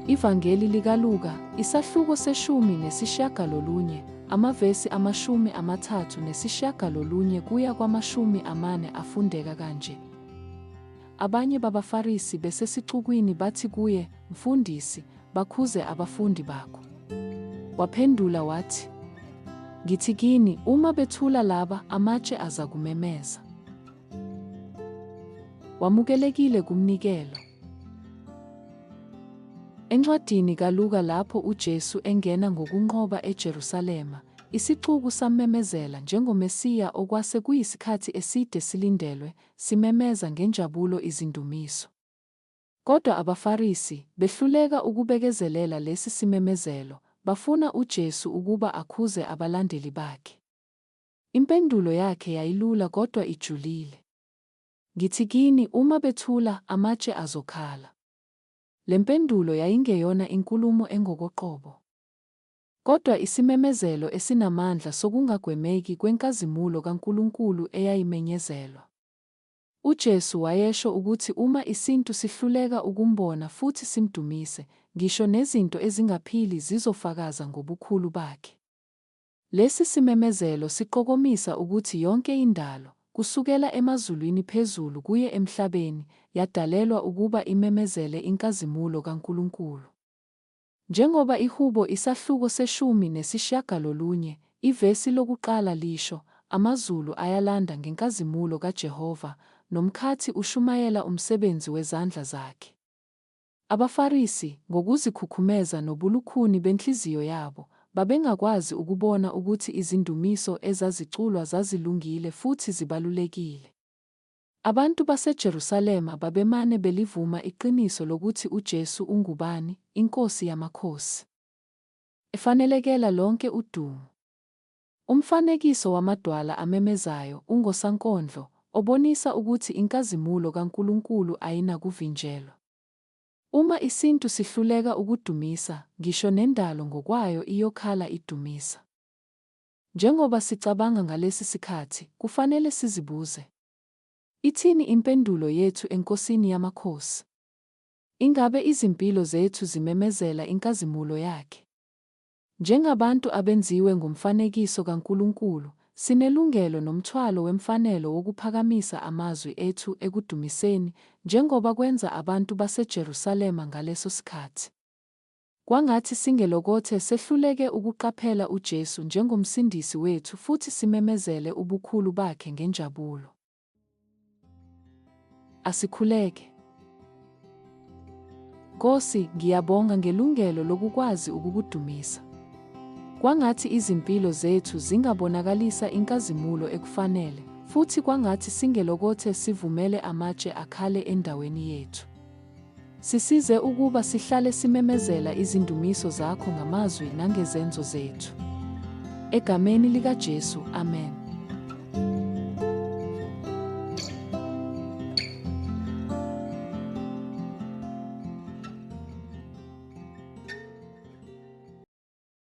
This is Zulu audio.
Ivangeli likaLuka, isahluko seshumi nesishiyagalolunye, amavesi amashumi amathathu nesishiyagalolunye kuya kwamashumi amane afundeka kanje. Abanye babaFarisi besesixukwini bathi kuye, Mfundisi, bakhuze abafundi bakho. Waphendula wathi, Ngithi kini, uma bethula laba, amatshe azakumemeza. Wamukelekile kumnikelo. Encwadini kaLuka lapho uJesu engena ngokunqoba eJerusalema, isixuku sammemezela njengoMesiya okwase kuyisikhathi eside silindelwe, simemeza ngenjabulo izindumiso. Kodwa abaFarisi, behluleka ukubekezelela lesi simemezelo, bafuna uJesu ukuba akhuze abalandeli bakhe. Impendulo yakhe yayilula kodwa ijulile. Ngithi kini, uma bethula, amatshe azokhala. Le mpendulo yayingeyona inkulumo engokoqobo, kodwa isimemezelo esinamandla sokungagwemeki kwenkazimulo kaNkulunkulu eyayimenyezelwa. UJesu wayesho ukuthi uma isintu sihluleka ukumbona futhi simdumise, ngisho nezinto ezingaphili zizofakaza ngobukhulu bakhe. Lesi simemezelo siqokomisa ukuthi yonke indalo, kusukela emazulwini phezulu kuye emhlabeni, yadalelwa ukuba imemezele inkazimulo kaNkulunkulu. Njengoba iHubo isahluko seshumi nesishiyagalolunye, ivesi lokuqala lisho, Amazulu ayalanda ngenkazimulo kaJehova, nomkhathi ushumayela umsebenzi wezandla zakhe. AbaFarisi, ngokuzikhukhumeza nobulukhuni benhliziyo yabo, babengakwazi ukubona ukuthi izindumiso ezaziculwa zazilungile futhi zibalulekile. Abantu baseJerusalema babemane belivuma iqiniso lokuthi uJesu ungubani, iNkosi yamakhosi, efanelekela lonke udumo. Umfanekiso wamadwala amemezayo ungosankondlo obonisa ukuthi inkazimulo kaNkulunkulu ayinakuvinjelwa. Uma isintu sihluleka ukudumisa, ngisho nendalo ngokwayo iyokhala idumisa. Njengoba sicabanga ngalesi sikhathi, kufanele sizibuze, Ithini impendulo yethu eNkosini yamakhosi? Ingabe izimpilo zethu zimemezela inkazimulo yakhe? Njengabantu abenziwe ngomfanekiso kaNkulunkulu, sinelungelo nomthwalo wemfanelo wokuphakamisa amazwi ethu ekudumiseni, njengoba kwenza abantu baseJerusalema ngaleso sikhathi. Kwangathi singelokothe sehluleke ukuqaphela uJesu njengoMsindisi wethu futhi simemezele ubukhulu bakhe ngenjabulo. Asikhuleke. Nkosi, ngiyabonga ngelungelo lokukwazi ukukudumisa. Kwangathi izimpilo zethu zingabonakalisa inkazimulo ekufanele, futhi kwangathi singelokothe sivumele amatshe akhale endaweni yethu. Sisize ukuba sihlale simemezela izindumiso zakho ngamazwi nangezenzo zethu. Egameni likaJesu, amen.